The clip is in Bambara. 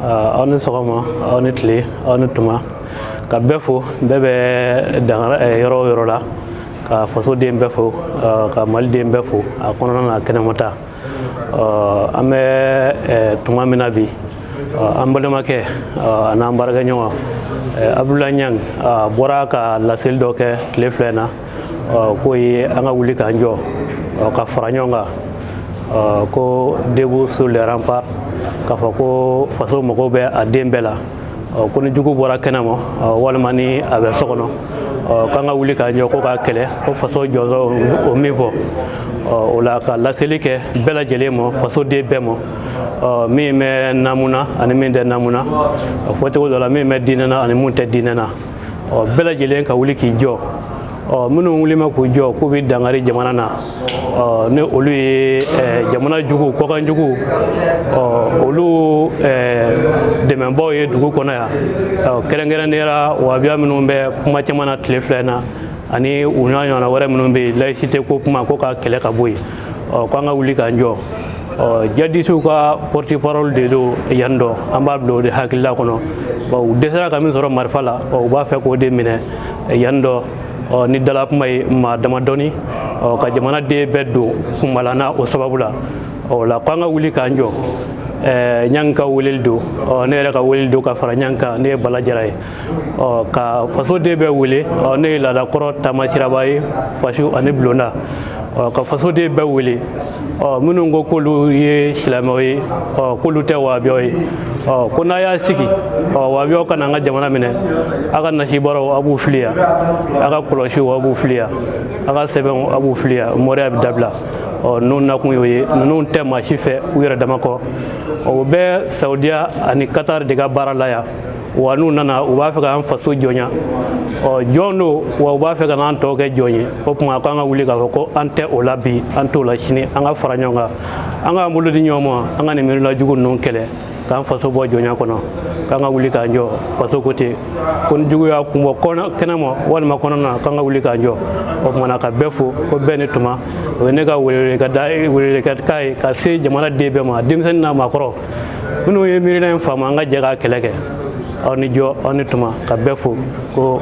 aw ni sɔgɔma aw ni tile aw ni tuma ka bɛɛ fo bɛɛ bɛ dangara yɔrɔ o yɔrɔ la ka fasoden bɛɛ fo ka maliden bɛɛ fo a kɔnɔna n'a kɛnɛmata an bɛ tuma min na bi an balimakɛ an'an baarakɛɲɔgɔn abudula ɲangi bɔra ka laseli dɔ kɛ tile fila in na k'o ye an ka wuli k'an jɔ ka fara ɲɔgɔn kan ko debout sur les remparts k'a fɔ ko faso mago bɛ a den bɛɛ la ko ni jugu bɔra kɛnɛ ma walima ni a bɛ so kɔnɔ k'an ka wuli k'an jɔ ko k'a kɛlɛ ko faso jɔyɔrɔ o min fɔ o la ka laseli kɛ bɛɛ lajɛlen ma faso den bɛɛ ma min bɛ namu na ani min tɛ namu na fɔcogo dɔ la min bɛ diinɛ na ani min tɛ diinɛ na ɔ bɛɛ lajɛlen ka wuli k'i jɔ ɔ minnu wulima k'u jɔ k'u bɛ dankari jamana na ɔ ni olu ye ɛ jamana jugu kɔkan jugu ɔ olu ɛ dɛmɛbaaw ye dugu kɔnɔ yan ɔ kɛrɛnkɛrɛnnenya la wahabiya minnu bɛ kuma caman na tile fila in na ani u n'a ɲɔgɔnna wɛrɛ minnu bɛ yen layisite ko kuma ko ka kɛlɛ ka bɔ yen ɔ k'an ka wuli k'an jɔ ɔ jadisiw ka porte parole de don yan dɔ an b'a bila o de hakilila kɔnɔ ɔ u dɛsɛra ka min sɔrɔ marifa la ɔ u b'a fɛ k'o de minɛ yan dɔ ɔ ni dalakuma ye maa damadɔni ɔ ka jamana den bɛɛ don kunbala na o sababu la o la k'an ka wuli k'an jɔ ɲangi ka weleli don ne yɛrɛ ka weleli don ka fara ɲangi kan ne ye bala jara ye ɔ ka faso den bɛɛ wele ɔ ne ye laada kɔrɔ taama siraba ye fasiw ani bulonda ɔ ka faso den bɛɛ wele ɔ minnu ko k'olu ye silamɛw ye ɔ k'olu tɛ wahabiyaw ye ɔ ko n'a y'a sigi ɔ wahabiyaw ka na an ka jamana minɛ a ka nasibaraw a b'u fili yan a ka kɔlɔsiw a b'u fili yan a ka sɛbɛnw a b'u fili yan mɔriya bɛ dabila ɔ ninnu nakun y'o ye ninnu tɛ maa si fɛ u yɛrɛ dama kɔ o bɛ saudiya ani katari de ka baara la yan wa n'u nana u b'a fɛ k'an faso jɔnya ɔ jɔn don wa u b'a fɛ ka n'an tɔ kɛ jɔn ye o tuma k'an ka wuli k'a fɔ ko an tɛ o la bi an t'o la sini an ka fara ɲɔgɔn kan an k'an bolo di ɲɔgɔn ma an ka nin miirila jugu ninnu kɛlɛ k'an faso bɔ jɔnya kɔnɔ k'an ka wuli k'an jɔ faso ko ten ko ni jugu y'a kun bɔ kɛnɛ ma walima kɔnɔna k'an ka wuli k'an jɔ o tuma na ka bɛɛ fo ko bɛɛ ni tuma o ye ne ka weleweleka da welewelekan ye ka se jamana den bɛɛ ma denmisɛnnin n'a maakɔrɔ minnu ye miirina in faamu an ka jɛ ka kɛlɛ kɛ aw ni jɔ aw ni tuma ka bɛɛ fo ko